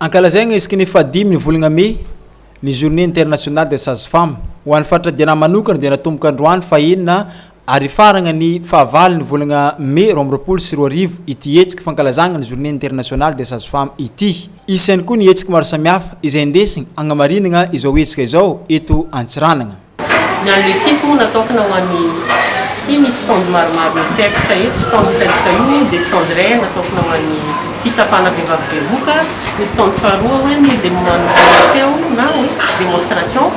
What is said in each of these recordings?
Ankalazaina isaky ny fahadimy ny volana mey ny Journée internationale des sages femmes. Ho an'ny faritra Diana manokana dia natomboka androany fahenina ary hifarana ny fahavalo ny volana mey roa amby roapolo sy roa arivo ity hetsika fankalazana ny Journée internationale des sages femmes ity. Isany koa ny hetsika maro samihafa izay indesina hagnamarinana izao hetsika izao eto Antsiranana. Ny an'i Lesis moa natokana ho an'ny, ity misy stand maromaro micercle eto, stand hitantsika io dia stand iray natokana ho an'ny fitsapana vehivavy bevoka, ny stand faharoa hoe ny dia maneho na hoe démonstration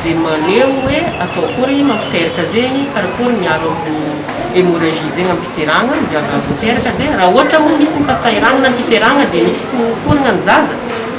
dia maneho hoe atao akory mampiteraka zegny, karakory miaro amin'ny hémorragie zegny amim-piterahana, ny vehivavy miteraka dia raha ohatra moa misy ny fahasahiranana ny fiterahana dia misy fotorana ny zaza,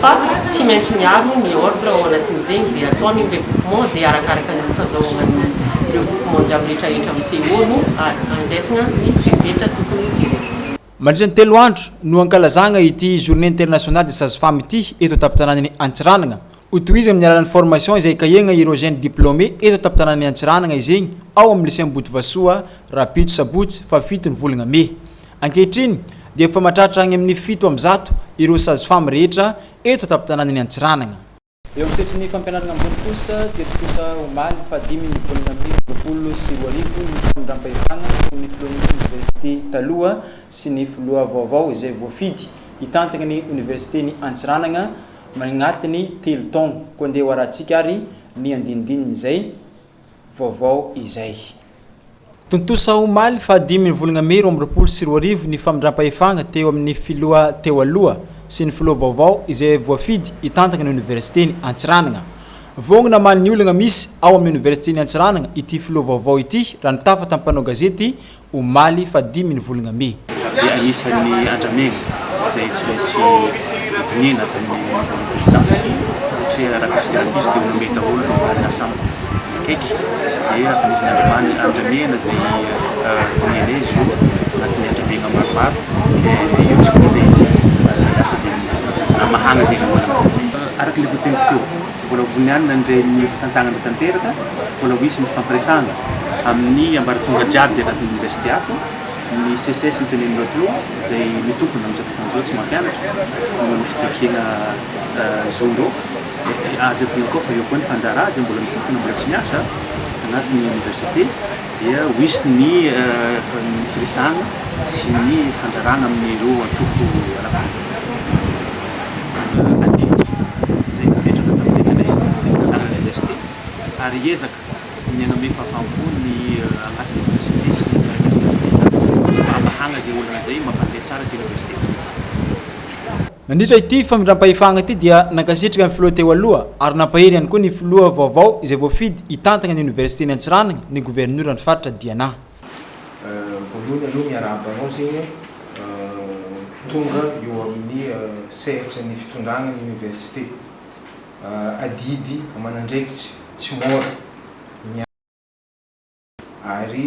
Fa tsy maintsy miaro ny ordre ao anatin'ireny dia ataony ny regroupement dia arakaraka ny fazahoan'ny regroupement jiaby rehetrarehetra amin'ny CO no andraisana ny fepetra tokony ho jerena. Mandritra ny telo andro no ankalazagna ity Journée Internationale des Sages Femmes ity eto an-tampon-tanànan'i Antsiranana. Ho tohizo amin'ny alalan'ny formation izay ikahiagna ireo jeunes diplômés eto an-tampon-tanànan'i Antsiranana izegny ao amin'ny Lycée Ambohitrivasoa, Rabito, Sabotsy faha fito ny volagna Mey. Ankehitriny, dia efa mahatratra any amin'ny fito amby zato ireo Sage-Femme rehetra eto an-tampon-tanànan'i Antsiranana. Eo amin'ny sehatrin'ny fampianarana ambony kosa, teto kosa omaly fahadimy ny volana may roapolo sy roa arivo ny famindram-pahefana teo amin'ny filohan'ny oniversite taloha sy ny filoha vaovao izay voafidy hitantana ny oniversiten'i Antsiranana manatin'ny telo taona. Koa andeha hoarahantsika ary ny andinindininy izay. vaovao izay. Tontosa omaly fahadimy ny volana mey roa amby roapolo sy roa arivo ny famindram-pahefana teo amin'ny filoha teo aloha sy ny filoha vaovao izay voafidy hitantana ny oniversiten'i Antsiranana. Vonona hamaly ny olana misy ao amin'ny oniversiten'i Antsiranana ity filoha vaovao ity raha nitafa tamin'ny mpanao gazety omaly fa dimy ny volonga mey. Dia anisan'ny andramena izay tsy maintsy hodiniana avy amin'ny niveau de vigilance satria raha misy grabuge dia ho nomey daholo ireo mpanana sambo akaiky dia efa nisy nandramana andramena izay hodiniana izy io anatin'ny andramegna maromaro dia io tsy ho hita izy ary lasa izay hamahana izay lohana mpanana sambo. Araka ilay voategniko teo. Mbola ho vonianina ny ren'ny fitantanana tanteraka, mbola ho hisy ny fifampiresahana amin'ny ambaratonga jiaby anatin'ny Oniversite ato, ny seces no tenenin'i Raotolo izay mitompona amin'izao tontolo izao tsy mampianatra noho ny fitakiana zo ndrô, aza adino koa fa eo koa ny mpandraharaha izay mbola mitompona mbola tsy miasa anatin'ny Oniversite. dia ho hisy ny firesahana sy ny fandrarana amin'ireo antoko ara-panabeazana adidy izay napetraka tamin'ny tetiny anivon'ny Oniversite ary hiezaka ny hanome fahavam-po ny anatin'ny Oniversite sy ny mpiara-miasa rehetra mba hamahana izay olana izay mampandeha tsara ity Oniversitentsika ity. Nandritra ity famindram-pahefana ity dia nankasitraka ny filoha teo aloha ary nampahery ihany koa ny filoha vaovao izay voafidy hitantana ny oniversiten'i Antsiranana ny governoran'ny faritra Diana. Voalohany aloha miarahaba anao zegny tonga eo amin'ny sehatry ny fitondrana ny oniversite. Adidy aman'andraikitry tsy môra ny miaraka aminao ary.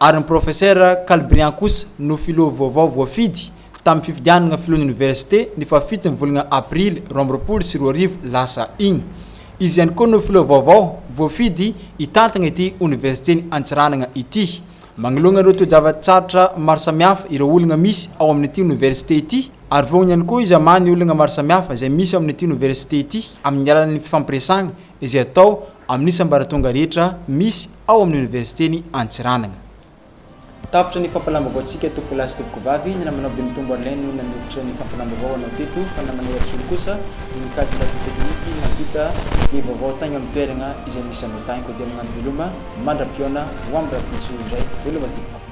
ary ny Profesera Kalbrian kosa no filoha vaovao voafidy tamin'ny fifidianana filohan'ny oniversite ny fahafiton'ny volana aprily roa amby roapolo sy roa arivo lasa iny. Izy ihany koa no filoha vaovao voafidy hitantana ity oniversiten'i Antsiranana ity. Manoloana ireo toe-java-tsarotra maro samihafa ireo olona misy ao amin'ity oniversite ity, ary vonoiny ihany koa izy hamaha ny olana maro samihafa izay misy ao amin'ity oniversite ity amin'ny alalan'ny fifampiresahana izay atao amin'ny sambaratonga rehetra misy ao amin'ny Oniversiten'i Antsiranana. Tapitra ny fampalam-baovaontsika tompoko lahy sy tompoko vavy, ny namanao Benitombo Arlin no nanondrotra ny fampalam-baovao anao teto fa namanay Rajoly kosa no nikajy ny radio teknika nampita ny vaovao taigny amin'ny toeragna izay misy anao tagny koa dia magnano veloma mandra-pihaona ho amin'ny rahampitso indray veloma tompoko.